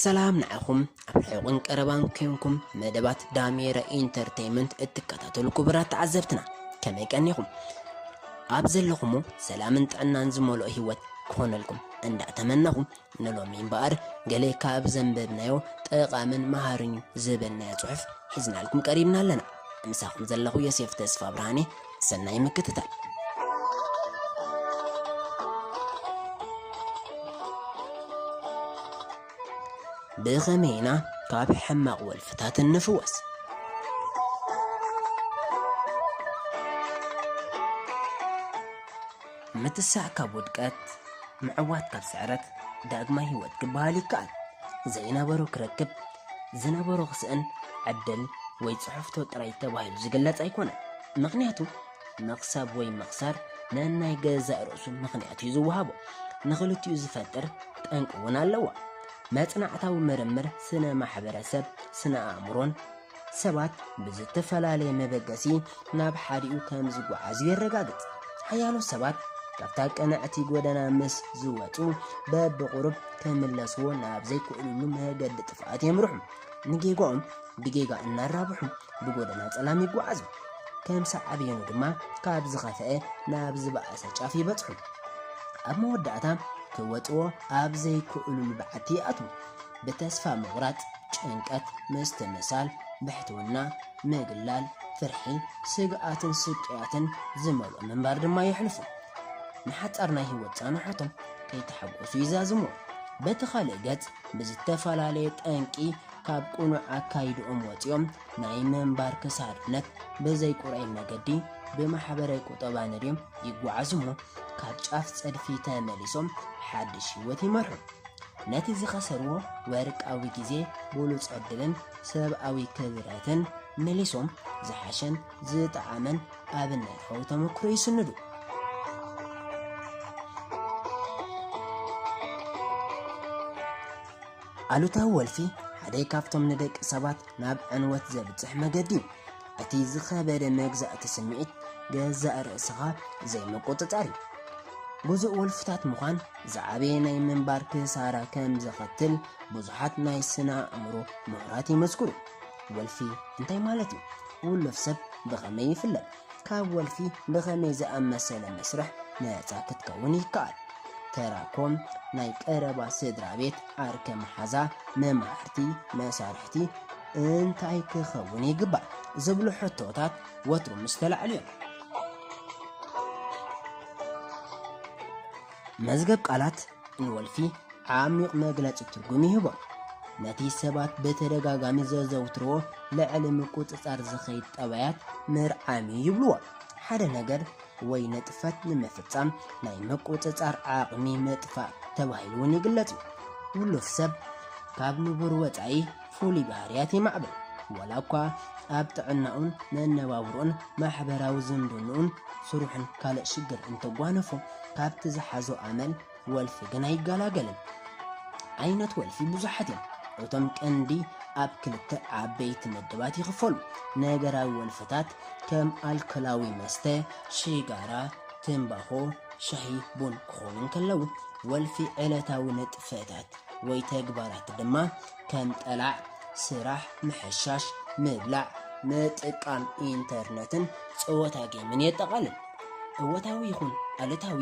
ሰላም ንዓኹም ኣብ ሕቑን ቀረባን ኮንኩም መደባት ዳሜራ ኢንተርቴይመንት እትከታተሉ ክቡራት ተዓዘብትና ከመይ ቀኒኹም? ኣብ ዘለኹሞ ሰላምን ጥዕናን ዝመልኦ ህይወት ክኾነልኩም እንዳተመነኹ ንሎሚ እምበኣር ገለ ካብ ዘንበብናዮ ጠቓምን መሃርን ዝበልናዮ ጽሑፍ ሒዝናልኩም ቀሪብና ኣለና። ምሳኹም ዘለኹ ዮሴፍ ተስፋ ብርሃኔ ሰናይ ምክትታል። ብኸመይ ኢና ካብ ሕማቕ ወልፍታት እንፍወስ? ምትሳእ ካብ ውድቀት፣ ምዕዋት ካብ ስዕረት፣ ዳግማይ ህይወት ክበሃል ይከኣል። ዘይነበሮ ክረክብ፣ ዝነበሮ ክስእን ዕድል ወይ ጽሑፍቶ ጥራይ ተባሂሉ ዝግለጽ ኣይኮነን። ምኽንያቱ መኽሰብ ወይ ምኽሳር ነናይ ገዛእ ርእሱ ምኽንያት እዩ ዝወሃቦ። ንኽልቲኡ ዝፈጥር ጠንቂ እውን ኣለዎ። መጽናዕታዊ ምርምር ስነ ማሕበረሰብ ስነ ኣእምሮን ሰባት ብዝተፈላለየ መበገሲ ናብ ሓዲኡ ከም ዝጓዓዙ የረጋግጽ። ሓያሎ ሰባት ካብታ ቅንዕቲ ጎደና ምስ ዝወጹ በብቑሩብ ክምለስዎ ናብ ዘይክእልሉ መገዲ ጥፍኣት የምርሑ። ንጌጋኦም ብጌጋ እናራብሑ ብጎደና ጸላም ይጓዓዙ። ከም ሳዕቤኑ ድማ ካብ ዝኸፍአ ናብ ዝበኣሰ ጫፍ ይበጽሑ። ኣብ መወዳእታ ክወጽዎ ኣብ ዘይክእልሉ በዓቲ ይኣትዉ። ብተስፋ ምቑራጽ፣ ጭንቀት፣ ምስትምሳል፣ ብሕትውና፣ ምግላል፣ ፍርሒ፣ ስግኣትን ስቅያትን ዝመልኦ ምንባር ድማ የሕልፉ። ንሓጻር ናይ ህይወት ጻንሖቶም ከይተሓጎሱ ይዛዝምዎ። በቲ ካልእ ገጽ ብዝተፈላለየ ጠንቂ ካብ ቅኑዕ ኣካይድኦም ወጺኦም ናይ ምንባር ክሳድነት ብዘይ ቁርዐይ መገዲ ብማሕበረ ቁጠባ ነድዮም ይጓዓዙ እሞ ካብ ጫፍ ጸድፊ ተመሊሶም ሓድሽ ህይወት ይመርሑ። ነቲ ዝኸሰርዎ ወርቃዊ ግዜ፣ ብሉጽ ዕድልን ሰብኣዊ ክብረትን መሊሶም ዝሓሸን ዝጠዓመን ኣብነታዊ ተመክሮ ይስንዱ። ኣሉታዊ ወልፊ ሓደ ካብቶም ንደቂ ሰባት ናብ ዕንወት ዘብጽሕ መገዲ እዩ። እቲ ዝኸበደ መግዛእቲ ስምዒት ገዛእ ርእስኻ ዘይምቁጽጻር እዩ። ግዙእ ወልፍታት ምዃን ዝዓበየ ናይ ምንባር ክሳራ ከም ዘኸትል ብዙሓት ናይ ስነ ኣእምሮ ምሁራት ይመስክሩ። ወልፊ እንታይ ማለት እዩ? ውሉፍ ሰብ ብኸመይ ይፍለጥ? ካብ ወልፊ ብኸመይ ዝኣመሰለ መስርሕ ነጻ ክትከውን ይከኣል? ተራኮም ናይ ቀረባ ስድራ ቤት፣ ዓርከ መሓዛ፣ መማህርቲ፣ መሳርሕቲ፣ እንታይ ክኸውን ይግባእ ዝብሉ ሕቶታት ወትሩ ምስ ተላዕሉ እዮም። መዝገብ ቃላት ንወልፊ ዓሚቕ መግለጺ ትርጉም ይህቦ። ነቲ ሰባት ብተደጋጋሚ ዘዘውትርዎ ልዕሊ ምቁጽጻር ዝኸይድ ጠባያት ምርዓም እዩ ይብልዎ። ሓደ ነገር ወይ ንጥፈት ንምፍጻም ናይ ምቁጽጻር ዓቕሚ ምጥፋእ ተባሂሉ እውን ይግለጽ እዩ። ውሉፍ ሰብ ካብ ንቡር ወጻኢ ፍሉይ ባህርያት የማዕብል። ዋላ እኳ ኣብ ጥዕናኡን መነባብሮኡን ማሕበራዊ ዝምድንኡን ስርሑን ካልእ ሽግር እንተጓነፎ ካብቲ ዝሓዞ ኣመል ወልፊ ግን ኣይገላገልን። ዓይነት ወልፊ ብዙሓት እዮም። እቶም ቀንዲ ኣብ ክልተ ዓበይቲ መደባት ይኽፈሉ። ነገራዊ ወልፍታት ከም ኣልኮላዊ መስተ፣ ሽጋራ፣ ትምባኾ፣ ሻሂ፣ ቡን ክኾኑ እንከለዉ፣ ወልፊ ዕለታዊ ንጥፈታት ወይ ተግባራት ድማ ከም ጠላዕ፣ ስራሕ፣ ምሕሻሽ፣ ምብላዕ፣ ምጥቃም ኢንተርነትን ጸወታ ጌምን የጠቓልል። እወታዊ ይኹን ኣሉታዊ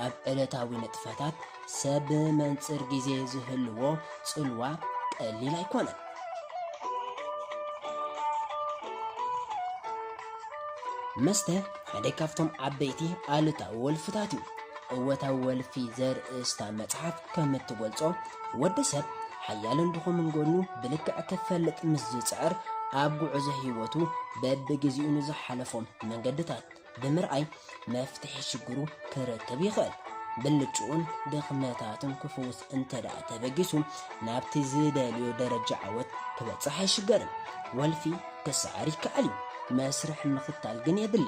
ኣብ ዕለታዊ ንጥፈታት ሰብ ብመንጽር ግዜ ዝህልዎ ጽልዋ ቀሊል ኣይኮነን። መስተ ሓደ ካብቶም ዓበይቲ ኣሉታዊ ወልፍታት እዩ። እወታዊ ወልፊ ዘርእስታ መጽሓፍ ከም እትገልጾ፣ ወዲ ሰብ ሓያልን ድኹምን ጎኑ ብልክዕ ክፈልጥ ምስ ዝጽዕር፣ ኣብ ጉዕዞ ህይወቱ በብግዜኡ ንዝሓለፎም መንገድታት ብምርኣይ መፍትሒ ሽግሩ ክረክብ ይኽእል። ብልጭኡን ድኽመታቱን ክፍውስ እንተደኣ ተበጊሱ ናብቲ ዝደልዮ ደረጃ ዓወት ክበጽሕ ኣይሽገርን። ወልፊ ክሰዓር ይከኣል እዩ፣ መስርሕ ምኽታል ግን የድሊ።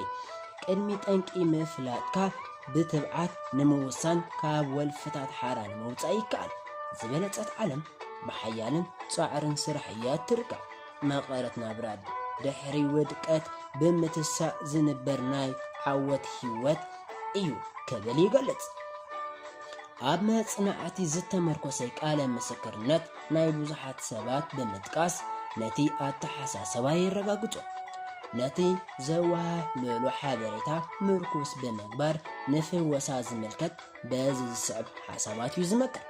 ቅድሚ ጠንቂ ምፍላጥካ ብትብዓት ንምውሳን ካብ ወልፍታት ሓራ ንምውጻእ ይከኣል። ዝበለጸት ዓለም ብሓያልን ጻዕርን ስራሕ እያ እትርከብ። መቐረት ናብራ ድሕሪ ውድቀት ብምትሳእ ዝንበር ናይ ዓወት ህይወት እዩ ክብል ይገልጽ። ኣብ መጽናዕቲ ዝተመርኮሰ ቃለ ምስክርነት ናይ ብዙሓት ሰባት ብምጥቃስ ነቲ ኣተሓሳሰባ የረጋግጾ። ነቲ ዘወሃህለሉ ሓበሬታ ምርኩስ ብምግባር ንፍወሳ ዝምልከት በዚ ዝስዕብ ሓሳባት እዩ ዝመክር።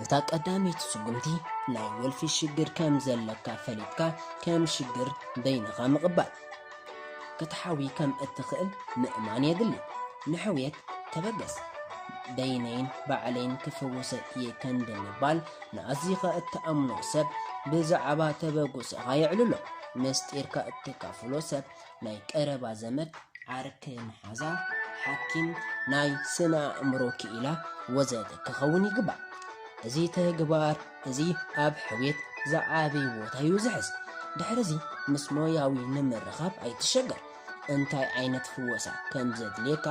እታ ቀዳመይቲ ስጉምቲ ናይ ወልፊ ሽግር ከም ዘለካ ፈሊጥካ ከም ሽግር በይንኻ ምቕባል ክትሓዊ ከም እትኽእል ምእማን የድሊ። ንሕውየት ተበገስ። በይነይን ባዕለይን ክፍወሰ እየ ከንዲ ምባል ንኣዚኻ እትኣምኖ ሰብ ብዛዕባ ተበግሶኻ የዕልሎ። ምስጢርካ እተካፍሎ ሰብ ናይ ቀረባ ዘመድ፣ ዓርኪ መሓዛ፣ ሓኪም፣ ናይ ስነ ኣእምሮ ክኢላ ወዘተ ክኸውን ይግባእ። እዚ ተግባር እዚ ኣብ ሕውየት ዝዓቢ ቦታ'ዩ ዝሕዝ። ድሕርዚ ምስ ሞያዊ ንምርኻብ ኣይትሸገር። እንታይ ዓይነት ፍወሳ ከም ዘድልየካ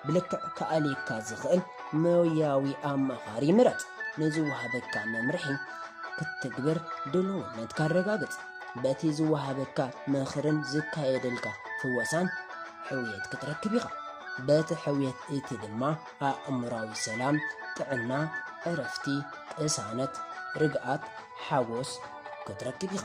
ብልክዕ ክኣልየካ ዝኽእል ሞያዊ ኣማኻሪ ምረጽ። ንዝወሃበካ መምርሒ ክትትግብር ድሉውነትካ ኣረጋግጽ። በቲ ዝወሃበካ ምኽርን ዝካየደልካ ፍወሳን ሕውየት ክትረክብ ኢኻ። በቲ ሕውየት እቲ ድማ ኣእምራዊ ሰላም፣ ጥዕና፣ ዕረፍቲ፣ ቅሳነት፣ ርግኣት፣ ሓጎስ ክትረክብ ኢኻ።